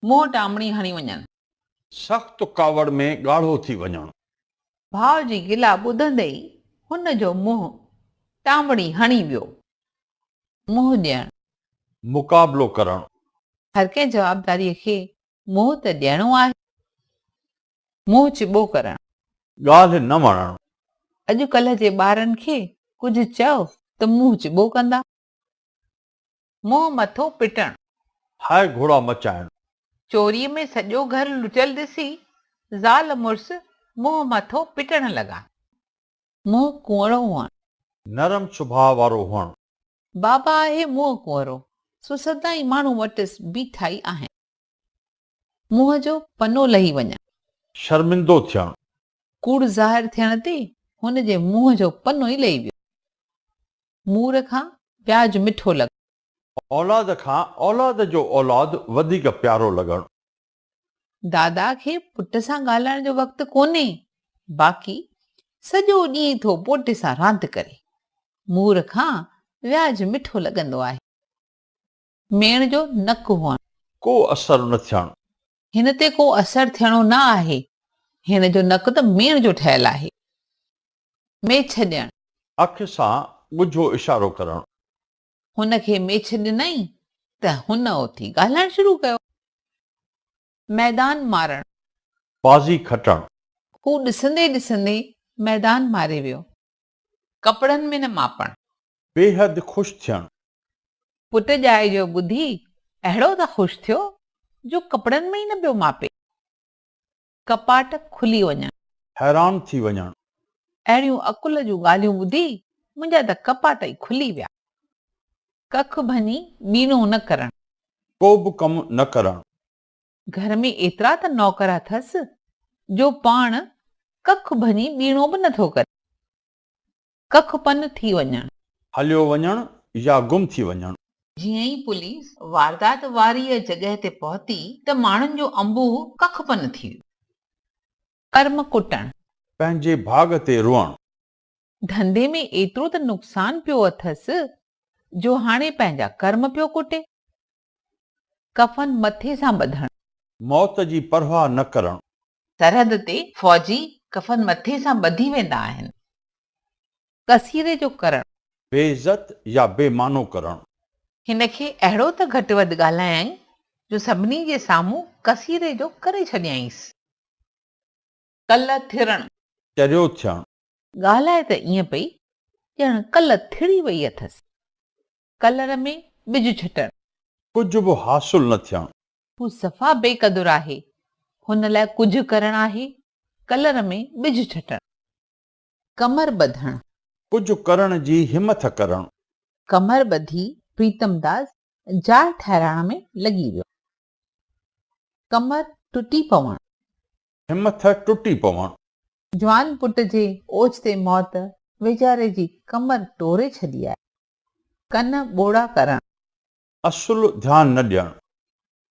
منهن ٽامڻي هڻي وڃڻ. سخت ڪاوڙ ۾ ڳاڙهو ٿي وڃڻ. ڀاء جي گلا ٻڌندي ئي هن جو منهن ٽامڻي هڻي ويو. منهن ڏيڻ. مقابلو ڪرڻ. هر ڪنهن جوابداريء کي منهن ته ڏيڻو آهي. منهن چٻو ڪرڻ. ڳالهه نه وڻڻ. اڄ ڪلهه جي ٻارن کي ڪجهه چئو ته منهن چٻو ڪندا. منهن مٿو پٽڻ. هاء گهوڙا مچائڻ. چوريء ۾ سڄو گهر لٽيل ڏسي زال مڙس منهن مٿو پٽڻ لڳا. منهن ڪؤنرو هئڻ. نرم سڀاء وارو هئڻ. بابا آهي منهن ڪؤنرو. سو سدائين ماڻهو وٽس بيٺائي آهن. منهن جو پنو لهي وڃڻ. شرمندو ٿيڻ. ڪوڙ ظاهر ٿيڻ تي هن جي منهن جو پنو ئي لهي ويو. مور کان پياج مٺو لڳڻ. اولاد کان اولاد جو اولاد وڌيڪ پيارو لڳڻ. دادا کي پٽ سان ڳالهائڻ جو وقت ڪونهي، باقي سڄو ڏينهن ٿو پوٽي سان راند ڪري. مور کان وياج مٺو لڳندو آهي. ميڻ جو نڪ هئڻ. ڪو اثر نه ٿيڻ. هن تي ڪو اثر ٿيڻو نه آهي. هن جو نڪ ته ميڻ جو ٺهيل آهي. ميڇ ڏيڻ. اک سان ڳجهو اشارو ڪرڻ. هن کي ميڇ ڏنائين ته هن اٿي ڳالهائڻ شروع ڪيو. ميدان مارڻ. بازي کٽڻ. هو ڏسندي ڏسندي ميدان ماري ويو. ڪپڙن ۾ نه ماپڻ. بيحد خوش ٿيڻ. پٽ ڄائي جو ٻڌي اهڙو ته خوش ٿيو جو ڪپڙن ۾ ئي نه پيو ماپي. ڪپاٽ کلي وڃڻ. حيران ٿي وڃڻ. اهڙيون عقل جون ڳالهيون ٻڌي منهنجا ته ڪپاٽ ئي کلي ويا. ڪک ڀڃي ٻيڻو نه ڪرڻ. ڪوبه ڪم نه ڪرڻ. گهر ۾ ايترا ته نوڪر اٿس، جو پاڻ ڪک ڀڃي ٻيڻو به نه ٿو ڪري. ڪک پن ٿي وڃڻ. هليو وڃڻ يا گم ٿي وڃڻ. جيئن ئي پوليس واردات واريء جڳهه تي پهتي ته ماڻهن جو انبوهه ڪک پن ٿي ويو. ڪرم ڪٽڻ. پنهنجي ڀاڳ تي روئڻ. ڌنڌي ۾ ايترو ته نقصان پيو اٿس، جو هاڻي پنهنجا ڪرم پيو ڪٽي. ڪفن مٿي سان ٻڌڻ. موت جي پرواهه نه ڪرڻ. سرحد تي فوجي ڪفن مٿي سان ٻڌي ويندا آهن. ڪسيري جو ڪرڻ. بي عزت يا بي معنو ڪرڻ. هن کي اهڙو ته گهٽ وڌ ڳالهايائين جو سڀني جي سامهون ڪسيري جو ڪري ڇڏيائينس. ڪل ٿرڻ. چريو ٿيڻ. ڳالهائي ته ائين پئي ڄڻ ڪل ٿڙي وئي اٿس. ڪلر ۾ ٻج ڇٽڻ. ڪجهه به حاصل نه ٿيڻ. هو صفا بي قدر آهي. هن لاء ڪجهه ڪرڻ آهي. ڪلر ۾ ٻج ڇٽڻ. ڪمر ٻڌڻ. ڪجهه ڪرڻ جي همٿ ڪرڻ. ڪمر ٻڌي پريتم داس جاء ٺهرائڻ ۾ لڳي ويو. ڪمر ٽٽي پوڻ. همٿ ٽٽي پوڻ. جوان پٽ جي اوچتي موت ويچاري جي ڪمر ٽوري ڇڏي آهي. ڪن ٻوڙا ڪرڻ. اصل ڌيان نه ڏيڻ.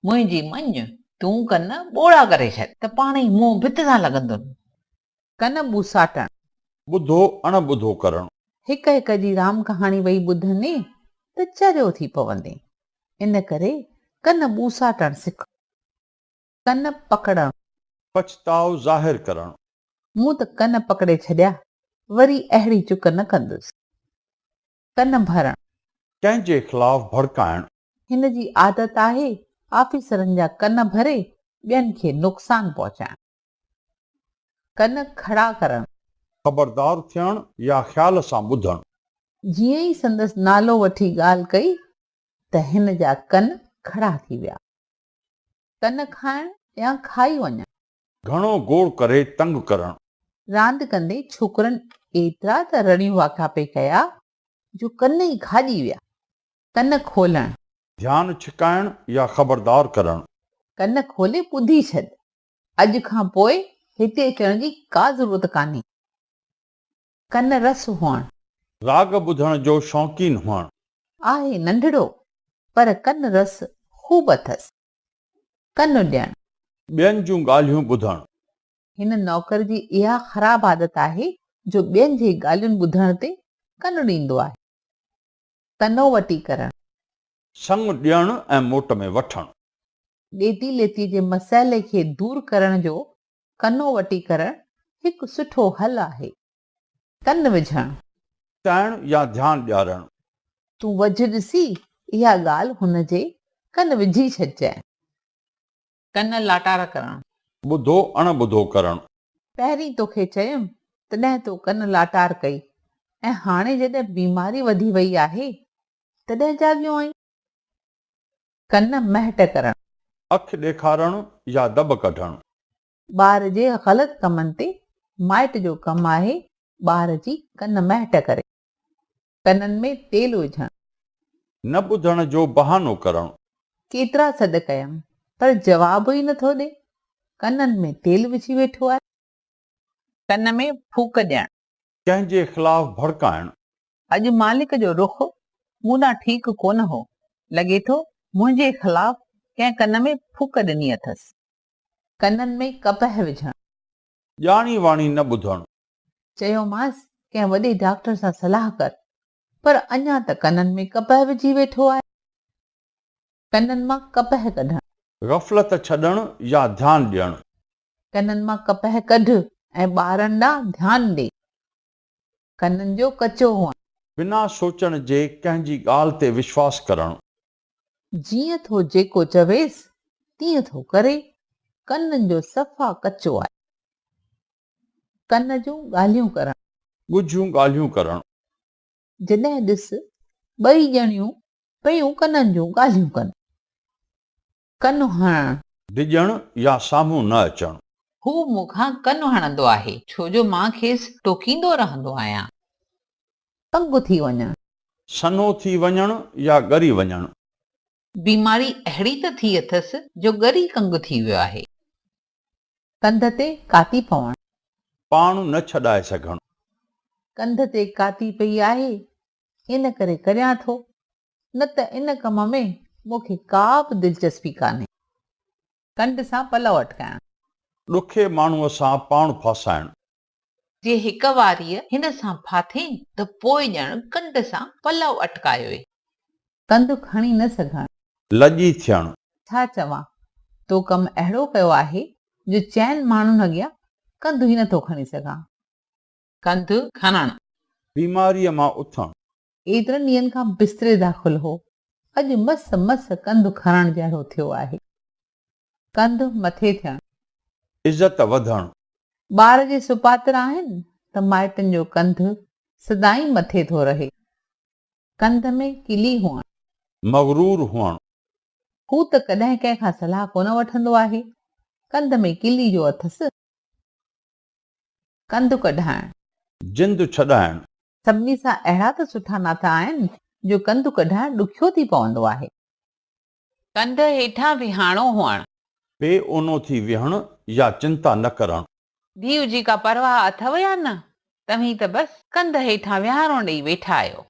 منهنجي مڃ، تون ڪن ٻوڙا ڪري ڇڏ. ته پاڻ ئي منهن ڀت سان لڳندن. ڪن ٻوساٽڻ. ٻڌو اڻ ٻڌو ڪرڻ. هڪ هڪ جي رام ڪهاڻي وئي ٻڌندين ته چريو ٿي پوندين. ان ڪري ڪن ٻوساٽڻ سک. ڪن پڪڙڻ. پڇتاء ظاهر ڪرڻ. مون ته ڪن پڪڙي ڇڏيا، وري اهڙي چڪ نه ڪندس. ڪن ڀرڻ. ڪنهن جي خلاف ڀڙڪائڻ. هن جي عادت آهي آفيسرن جا ڪن ڀري ٻين کي نقصان پهچائڻ. ڪن کڙا ڪرڻ. خبردار ٿيڻ يا خيال سان ٻڌڻ. جيئن ئي سندس نالو وٺي ڳالهه ڪئي ته هن جا ڪن کڙا ٿي ويا. ڪن کائڻ يا کائي وڃڻ. گهڻو گوڙ ڪري تنگ ڪرڻ. راند ڪندي ڇوڪرن ايترا ته رڙيون واڪا پئي ڪيا جو ڪن ئي کاڄي ويا. ڪن کولڻ. ڌيان ڇڪائڻ يا خبردار ڪرڻ. ڪن کولي ٻڌي ڇڏ. اڄ کان پوء هتي اچڻ جي ڪا ضرورت ڪانهي. ڪن رس هئڻ. راڳ ٻڌڻ جو شوقين هئڻ. آهي ننڍڙو پر ڪن رس خوب اٿس. ڪن ڏيڻ. ٻين جون ڳالهيون ٻڌڻ. هن نوڪر جي اها خراب عادت آهي جو ٻين جي ڳالهين ٻڌڻ تي ڪن ڏيندو آهي. ڪنو وٽي ڪرڻ. سڱ ڏيڻ ۽ موٽ ۾ وٺڻ. ڏيتي ليتي جي مسئلي کي دور ڪرڻ جو ڪنو وٽي ڪرڻ هڪ سٺو حل آهي. ڪن وجهڻ. ڪائڻ يا ڌيان ڏيارڻ. تون وجهه ڏسي اها ڳالهه هن جي ڪن وجهي ڇڏجانء. ڪن لاٽار ڪرڻ. ٻڌو اڻ ٻڌو ڪرڻ. پهرين توکي چيم تڏهن تو ڪن لاٽار ڪئي ۽ هاڻي جڏهن بيماري وڌي وئي آهي تڏهن جاڳيو آهين. ڪن مهٽ ڪرڻ. اک ڏيکارڻ يا دٻ ڪڍڻ. ٻار جي غلط ڪمن تي مائٽ جو ڪم آهي ٻار جي ڪن مهٽ ڪري. ڪنن ۾ تيل وجهڻ. نه ٻڌڻ جو بهانو ڪرڻ. ڪيترا سڏ ڪيم پر جواب ئي نٿو ڏي. ڪنن ۾ تيل وجهي ويٺو آهي. ڪن ۾ ڦوڪ ڏيڻ. ڪنهن جي خلاف ڀڙڪائڻ. اڄ مالڪ جو رخ مون ڏانهن ٺيڪ ڪونه هو، لڳي ٿو منهنجي خلاف ڪنهن ڪن ۾ ڦوڪ ڏني اٿس. ڪنن ۾ ڪپهه وجهڻ. ڄاڻي واڻي نه ٻڌڻ. چيومانس ڪنهن وڏي ڊاڪٽر سان صلاح ڪر، پر اڃا ته ڪنن ۾ ڪپهه وجهي ويٺو آهي. ڪنن مان ڪپهه ڪڍڻ. غفلت ڇڏڻ يا ڌيان ڏيڻ. ڪنن مان ڪپهه ڪڍ ۽ ٻارن ڏانهن ڌيان ڏي. ڪنن جو ڪچو هئڻ. بنا سوچڻ جي ڪنهن جي ڳالهه تي وشواس ڪرڻ. جيئن ٿو جيڪو چويس تيئن ٿو ڪري. ڪنن جو صفا ڪچو آهي. ڪن جون ڳالهيون ڪرڻ. ڳجهيون ڳالهيون ڪرڻ. جڏهن ڏس ٻئي ڄڻيون پيون ڪنن جون ڳالهيون ڪن. ڪن هڻڻ. ڊڄڻ يا سامهون نه اچڻ. هو مون کان ڪن هڻندو آهي. ڇو جو مان کيس ٽوڪيندو رهندو آهيان. تنگ ٿي وڃڻ. سنهو ٿي وڃڻ يا ڳري وڃڻ. بيماري اهڙي ته ٿي اٿس جو ڳري ڪنگ ٿي ويو آهي. ڪنڌ تي ڪاتي پوڻ. پاڻ نه ڇڏائي سگهڻ. ڪنڌ تي ڪاتي پئي آهي، ان ڪري ڪريان ٿو. نه ته ان ڪم ۾ مون کي ڪا به دلچسپي ڪانهي. ڪنڊ سان پلئو اٽڪائڻ. ڏکي ماڻهوء سان پاڻ ڦاسائڻ. جي هڪ واريء هن سان ڦاٿين ته پوء ڄڻ ڪنڊ سان پلئو اٽڪايو ئي. ڪنڌ کڻي نه سگهڻ. لڄي ٿيڻ. ڇا چوان، تو ڪم اهڙو ڪيو آهي جو چئن ماڻهن اڳيان ڪنڌ ئي نٿو کڻي سگهان. ڪنڌ کڻڻ. بيماريء مان اٿڻ. ايترن ڏينهن کان بستري داخل هو، اڄ مس مس ڪنڌ کڻڻ جهڙو ٿيو آهي. ڪنڌ مٿي ٿيڻ. عزت وڌڻ. ٻار جي سپاتر آهن ته مائٽن جو ڪنڌ سدائين مٿي ٿو رهي. ڪنڌ ۾ ڪلي هئڻ. مغرور هئڻ. هو ته ڪڏهن ڪنهن کان صلاح ڪونه وٺندو آهي. ڪنڌ ۾ ڪلي جو اٿس. ڪنڌ ڪڍائڻ. جند ڇڏائڻ. سڀني سان اهڙا ته سٺا ناتا آهن جو ڪنڌ ڪڍائڻ ڏکيو ٿي پوندو آهي. ڪنڌ هيٺان ويهاڻو هئڻ. بي اونو ٿي ويهڻ يا چنتا نه ڪرڻ. ڌيء جي ڪا پرواهه اٿو يا نه؟ توهين ته بس ڪنڌ هيٺان ويهاڻو ڏئي ويٺا آهيو.